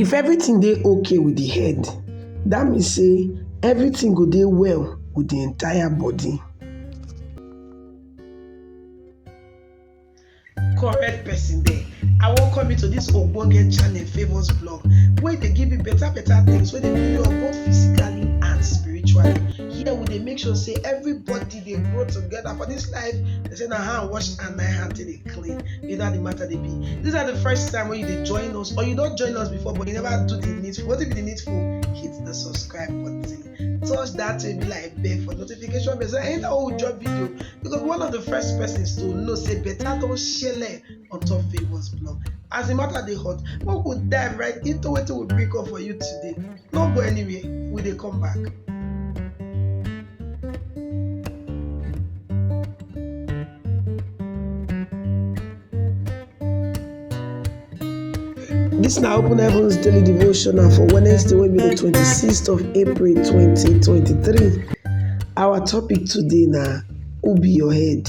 If everything dey okay with the head, that mean say everything go dey well with the entire body. correct person there i welcome you to this ogbonge channel favours blog wey dey give you better better things wey dey build you up both physically and spiritually here we dey make sure say everybody dey grow together for this life they say na hand wash and na hand take dey clean you know how the matter dey be this na the first time wey you dey join us or you don join us before but you never do the needful wetin be the needful hit the subscribe button touch that baby like bell for notification bell so anytime wey we drop video you go be one of the first persons to know say better don shele on top favours blog as the matter dey hot make we dive right into wetin we bring come for you today no go anywhere we dey come back. This na Open Heavens Daily Devotional for Wednesday wey be the 26th of April 2023. Our topic today na who be your head?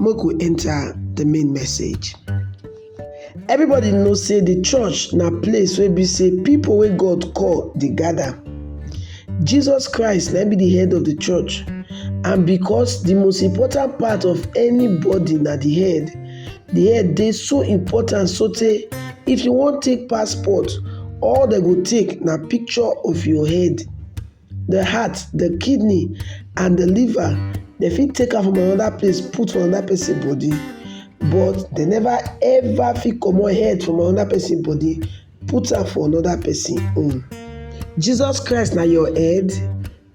Make we enter the main message. Everybody know say the church na place wey be say people wey God call dey gather. Jesus Christ na be the head of the church and because the most important part of anybody na the head, the head dey so important sotey if you wan take passport all dem go take na picture of your head. the heart, the kidney and the liver, dem fit take am from another place put for another person body but dem never ever fit comot head from another person body put am for another person own. Jesus Christ na your head?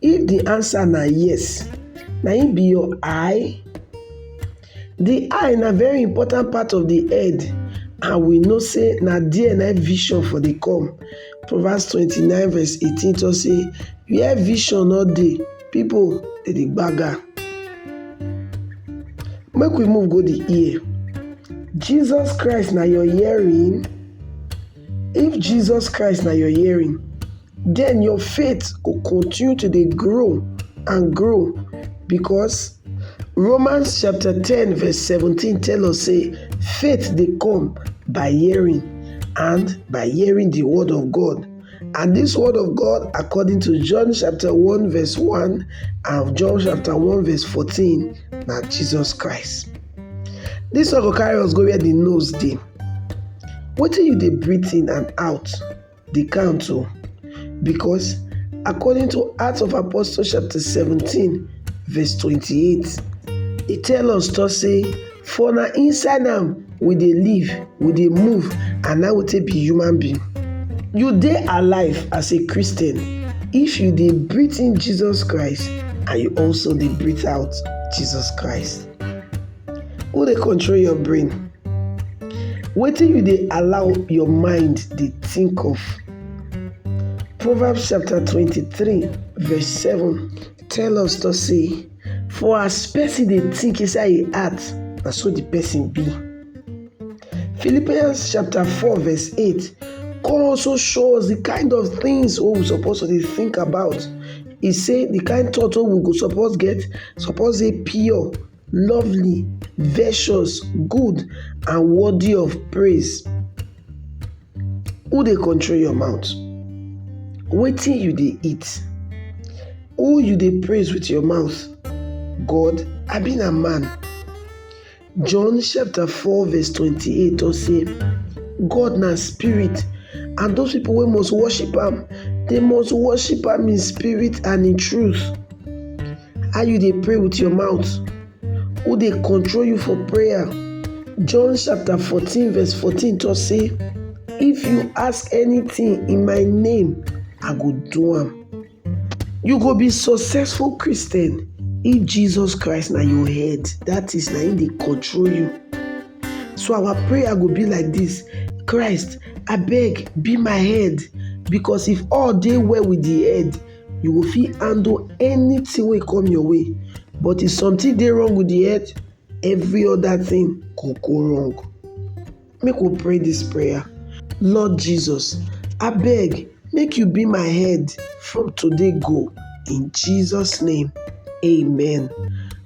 If the answer na yes, na im be your eye? Di eye na very important part of di head and we know sey na there na im vision for dey come proverbs twenty nine verse eighteen talk sey where vision no dey people dey dey gbaga. Make we move go di ear, Jesus Christ na your hearing? If Jesus Christ na your hearing then your faith go continue to dey grow and grow because Romans chapter 10 verse 17 tell us say faith dey come by hearing and by hearing the word of God. And this word of God, according to John chapter 1 verse 1 and John chapter 1 verse 14, na Jesus Christ. This one go carry us go where the nose dey. Wetin you dey breathe in and out? dey count o because according to Acts of Apostles chapter 17 verse 28, e tell us to say for na inside am we dey live, we dey move and na we take be human being. You dey alive as a Christian if you dey breathe in Jesus Christ and you also dey breathe out Jesus Christ. Who dey control your brain? Wetin you dey allow your mind dey think of? Proverbs chapter twenty-three verse seven tell us to say, For as person dey think inside im heart, na so the person be. Philippians chapter four verse eight come also show us the kind of things wey we suppose to dey think about. e say di kain thought wey we go suppose get suppose dey pure lovely virtuous good and worthy of praise who dey control your mouth wetin you dey eat who you dey praise with your mouth god abi na man John chapter 4 verse 28 tok say, God na spirit and those people wey must worship am, they must worship am in spirit and in truth. How you dey pray with your mouth? Who dey control you for prayer? John chapter 14 verse 14 tok say, If you ask anything in my name, I go do am. You go be successful Christian if Jesus Christ na your head, that is na him dey control you. So our prayer go be like this, Christ abeg be my head because if all dey well with the head, you go fit handle anything wey come your way but if something dey wrong with the head, every other thing go go wrong. Make we pray dis prayer. Lord Jesus, abeg make you be my head from today go in Jesus name, amen.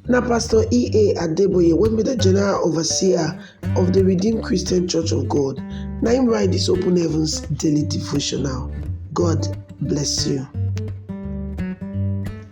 Na Pastor E.A. Adeboye wey be the General Overseer of the Redeemed Christian Church of God na im write dis Open Heavens Daily Devotional. God bless you.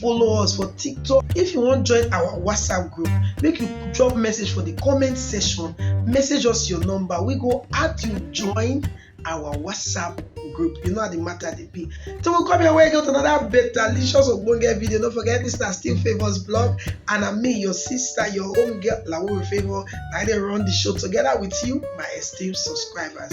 follow us for tiktok if you wan join our whatsapp group make you drop message for the comment section message us your number we go add you join our whatsapp group you know how the matter dey be till we come your way get another better licious ogbonge video no forget this na still favours blog and na me your sister your own girl lawore favour na i dey run the show together with you my esteemed subscribers